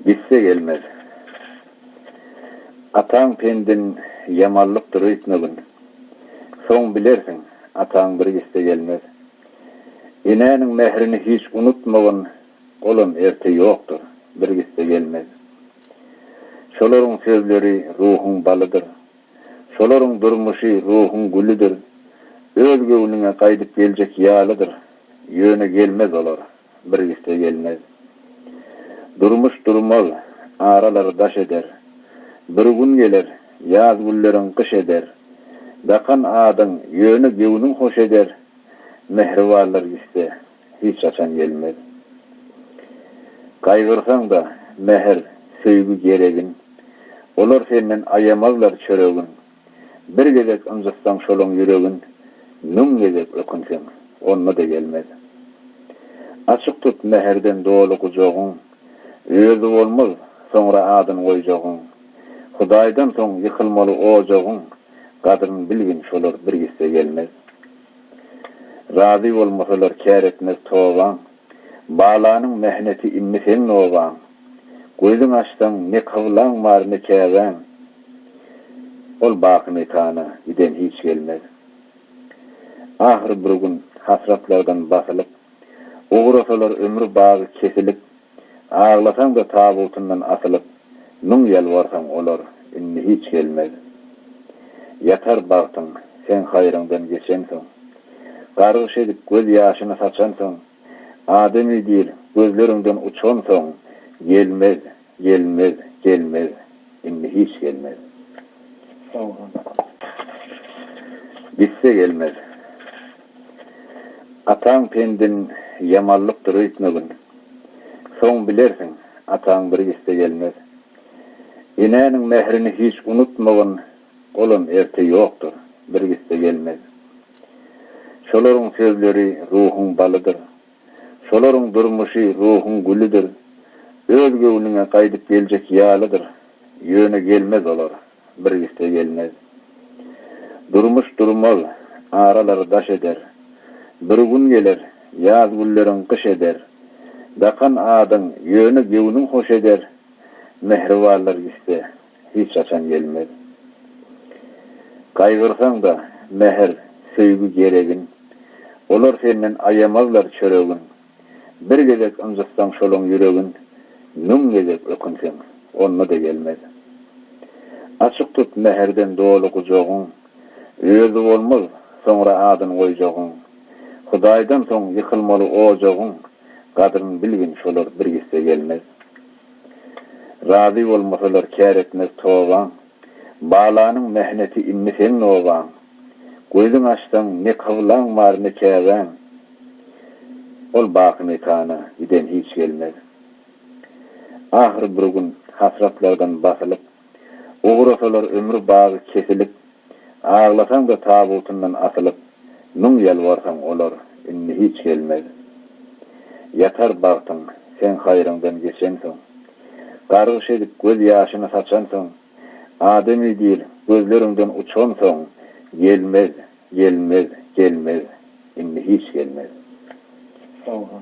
Gitse gelmez. Ataň pendin ýamanlykdyr öýtmegin. Soň bilersiň, ataň bir gitse gelmez. Enäniň mährini hiç unutmagyn, olam erte ýokdur, bir gitse gelmez. Şolaryň sözleri ruhuň balydyr. Şolaryň durmuşy ruhuň gülüdir. Öz göwnüňe gaýdyp geljek ýalydyr, ýöne gelmez olar. bir üste gelmez. Durmuş durmaz, aralar daş eder. Bir gün geler, ýaz gülleriň gyş eder. Dakan adyň, ýöne göwnüň hoş eder. Mähribarlar gitse, hiç haçan gelmez. Gaýgyrsaň-da, mähir, söýgi geregin. Olar senden aýamazlar çöregin. Bir gezek ynjytsaň şolaň ýüregin, Müň gezek ökünseň, onda-da gelmez. Açyk tut mähirden doly gujagyň, Özi bolmaz, soňra adyn goýjagyň. Hudaýdan soň ýykylmaly ojagyň, Gadryn bilgin, şolar bir gitse gelmez. Razy bolmasalar kär etmez tobaň, Balanyň mähneti indi seň nobaň. Gözüň açsaň, ne kyblaň bar, ne Käbäň. Ol baky mekana giden hiç gelmez. Ahyr bir gün hasratlardan basylyp, Ugrasalar ömri bagy kesilip, Aglasaň-da tabutyndan asylyp, Müň ýalbarsaň, olar indi hiç gelmez. Ýatar bagtyň, seň haýryňdan geçensoň. Gargyş edip göz ýaşyny saçansoň, Adamy diýl, gözleriňden uçansoň, Gelmez, gelmez, gelmez, indi hiç gelmez. Gitse gelmez. Ataň pendin ýamanlykdyr öýtmegin. Soň bilersiň, ataň bir gitse gelmez. Enäniň mährini hiç unutmagyn. Olam erte ýokdur, bir gitse gelmez. Şolaryň sözleri ruhuň balydyr. Şolaryň durmuşy ruhuň gülüdir. Öz göwnüňe gaýdyp geljek ýalydyr. Ýöne gelmez olar, bir gitse gelmez. Durmuş durmaz, aralary daş eder. Bir gün geler, ýaz günleriň gyş eder. Dakan adyň, ýöne göwnüň hoş eder. Mähribanlar gitse, Hiç haçan gelmez. Gaýgyrsaň-da, mähir, söýgi geregin. Olar senden aýamazlar çöregin. Bir gezek ynjytsaň şolaň ýüregin, Müň gezek ökünseň, onda-da gelmez. Açyk tut mähirden doly gujagyň, Özi bolmaz, soňra adyn goýjagyň. Hudaýdan soň ýykylmaly ojagyň, Gadryn bilgin, şolar bir gitse gelmez. Razy bolmasalar kär etmez tobaň, Balanyň mähneti indi seň nobaň. Gözüň açsaň, ne kyblaň bar, ne Käbäň, Ol baky mekana giden hiç gelmez. Ahyr bir gün hasratlardan basylyp. Ugrasalar ömri bagy kesilip, Aglasaň-da tabutyndan asylyp, Müň ýalbarsaň, olar indi hiç gelmez. Ýatar bagtyň, seň haýryňdan geçensoň. Gargyş edip göz ýaşyny saçansoň, Adamy dil, gözleriňden uçansoň, Gelmez, gelmez, gelmez, indi hiç gelmez. Sag bol.